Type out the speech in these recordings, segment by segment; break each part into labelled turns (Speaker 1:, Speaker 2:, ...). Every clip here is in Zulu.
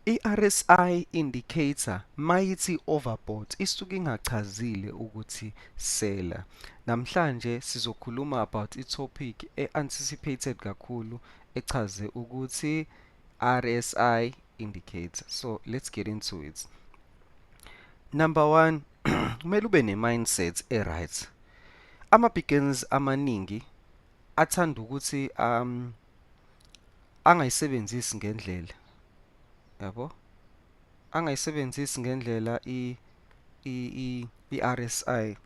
Speaker 1: I-RSI indicator mayithi overbought isuke ingachazile ukuthi seller. Namhlanje sizokhuluma about i-topic e-anticipated kakhulu echaze ukuthi RSI indicator. So let's get into it. Number one, kumele ube ne-mindset e-right. Ama-begins amaningi athanda ukuthi um, angayisebenzisi ngendlela yabo angayisebenzisi ngendlela i i i RSI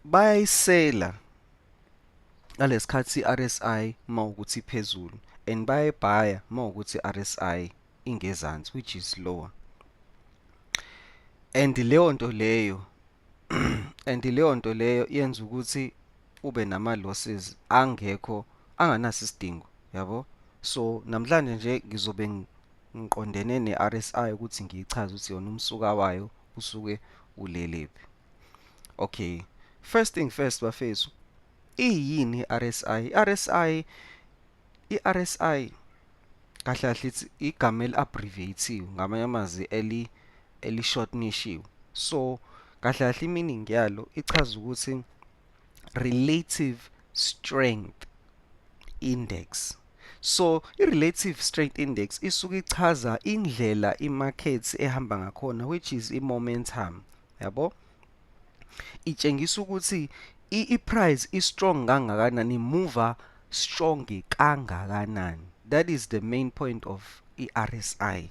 Speaker 1: bayayisela ngalesikhathi RSI mawukuthi iphezulu and bayayibhaya mawukuthi RSI ingezansi which is lower and leyo nto leyo and leyo nto leyo yenza ukuthi ube nama losses angekho anganaso isidingo yabo so namhlanje nje ngizobe ngiqondene ne-RSI ukuthi ngiyichaze ukuthi yona umsuka wayo usuke ulelephi okay first thing first bafethu iyini i-RSI i-RSI I-RSI kahle kahle it's igama eli-abbreviate-iwe ngamanye amazwi eli eli-shortnishiwe so kahle kahle i-meaning yalo ichaza ukuthi relative strength index so i-relative strength index isuke ichaza indlela imakhethi ehamba ngakhona which is i-momentum yabo itshengisa ukuthi i-price i-strong kangakanani imuva strong kangakanani that is the main point of i-RSI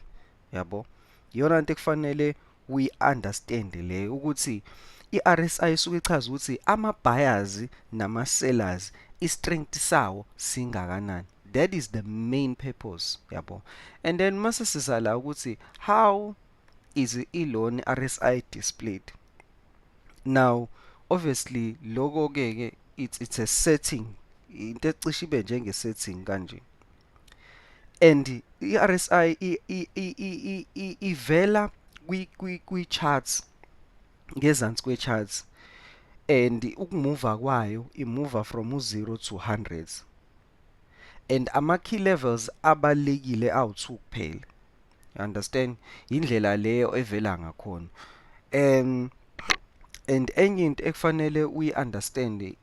Speaker 1: yabo iyona nto ekufanele uyi-understand leyo ukuthi i-RSI isuke ichaza ukuthi ama-buyers nama-sellers i-strength sawo singakanani that is the main purpose yabo and then mase siza la ukuthi how is iloni RSI displayed now obviously loko ke ke it's, it's a setting into ecishe ibe njenge setting kanje and i-RSI ivela kwi-charts ngezansi kwe-charts and ukumuva kwayo imuva from u-0 to 100 and ama key levels abalekile awu2 kuphela you understand indlela leyo evela ngakhona um and enye into ekufanele uyi understand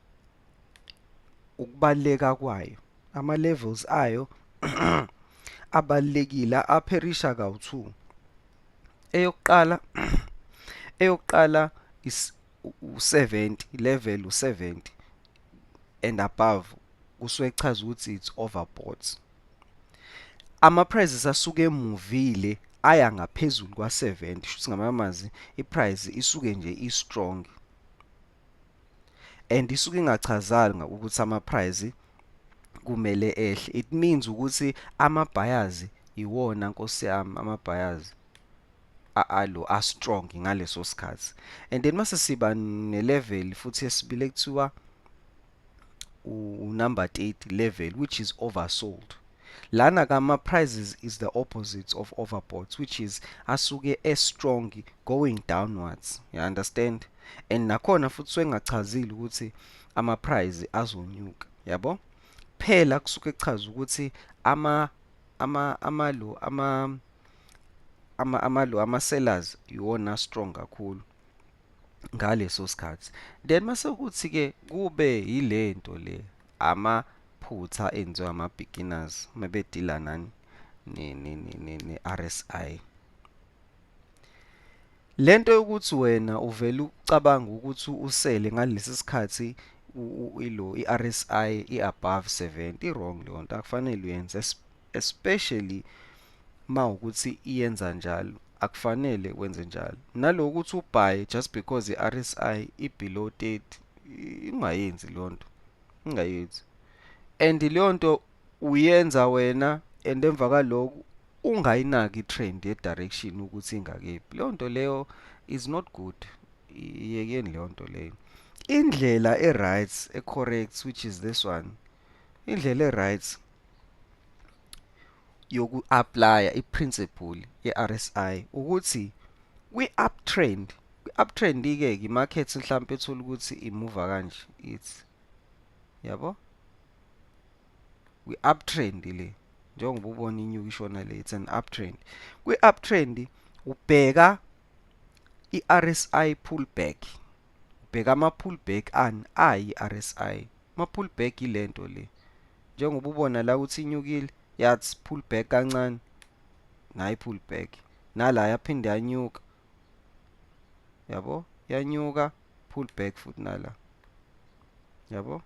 Speaker 1: ukubaleka kwayo ama levels ayo abalekile apherisha kawu2 eyokuqala eyokuqala is u-70 level u-70 and above kusuke kuchaza ukuthi it's overbought ama-prices asuke emuvile aya ngaphezulu kwa-70 shuthi ngamanye amazwi i-price isuke nje i-strong and isuke ingachazanga ukuthi ama-price kumele ehle it means ukuthi ama-buyers iwona nkosi yami ama-buyers alo a strong ngaleso sikhathi and then mase siba ne level futhi esibile kuthiwa u number 8 level which is oversold lana kama prices is the opposite of overbought which is asuke e strong going downwards you understand and nakhona futhi swengachazile ukuthi ama price azonyuka yabo phela kusuke kuchaza ukuthi ama ama amalu ama ama amalu ama sellers iwona strong kakhulu ngaleso sikhathi then mase ukuthi ke kube yilento le ama phutha enziwa ama beginners mebedila nani ne ne ne RSI Lento yokuthi wena uvele ucabanga ukuthi usele ngalesi sikhathi ilo iRSI iabove 70 wrong leyo nto akufanele uyenze especially mawukuthi iyenza njalo akufanele wenze njalo naloku ukuthi ubhaye just because iRSI ibelow 30 ingayenzi leyo nto ingayenzi and leyo nto uyenza wena and emva kaloku ungayinaki trend ye direction ukuthi ingakephi leyo nto leyo is not good iyekeni leyo nto leyo indlela e right e correct which is this one indlela e right yoku apply i principle ye RSI ukuthi kwi uptrend kwi uptrend ike ke market mhlawumbe ethola ukuthi imuva kanje ithi yabo kwi-uptrend le njengoba ubona inyuka ishona le it's an uptrend kwi-uptrend ubheka i-RSI pullback ubheka ama-pullback ani ayi-RSI ama-pullback ilento le njengoba ubona la ukuthi inyukile yathi pullback kancane nayi pullback nala yaphinde yanyuka yabo yanyuka pullback futhi nala yabo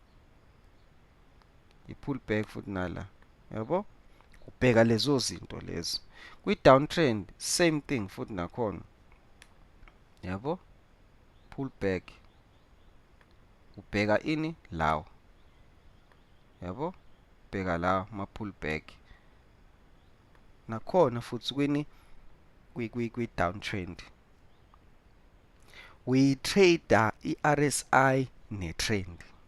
Speaker 1: i-pull back futhi nala yabo ubheka lezo zinto lezo kwi-downtrend same thing futhi nakhona yabo pull back ubheka ini lawo yabo bheka la ma-pull back nakhona futhi kwini kwi-downtrend we-trader i-rsi ne-trend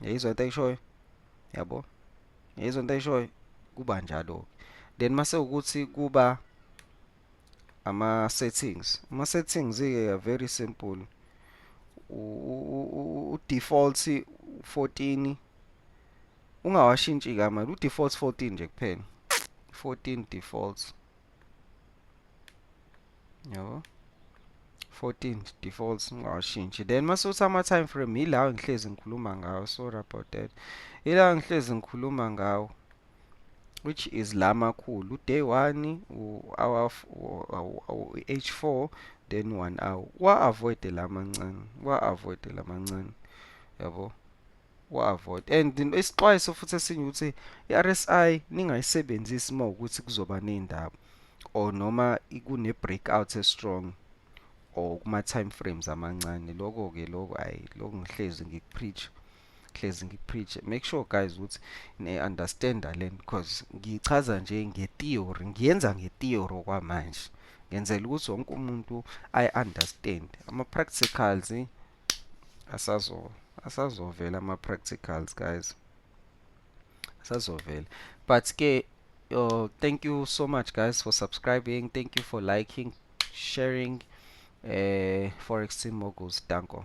Speaker 1: yayizwa into ayishoyo yabo yayizwa into ayishoyo kuba njalo then mase ukuthi kuba ama settings ama settings ke very simple u default 14 ungawashintshi kama u default 14 nje kuphela 14 defaults yabo 14 defaults ngawashintshi then masuthi ama-time frame yilawo ngihlezi ngikhuluma ngawo sorry about that yilawo ngihlezi ngikhuluma ngawo which is la makhulu day 1 u-h 4 then 1 hour wa-avoide la mancane wa-avoide la mancane yabo wavota and isixwayiso futhi esinye ukuthi i-RSI ningayisebenzisi uma ukuthi kuzoba ney'ndaba or noma kune-breakout e-strong or kuma-time frames amancane loko-ke loko hhayi loko ngihlezi ngikupreach hlezi ngipreach make sure guys ukuthi ne-understanda le nto because ngiyichaza nje nge-theory ngiyenza nge-theory okwamanje ngenzela ukuthi wonke umuntu ayi-understand ama-practicals asazo asazovela ama practicals guys asazovela but ke oh, thank you so much guys for subscribing thank you for liking sharing eh forex team moguls danko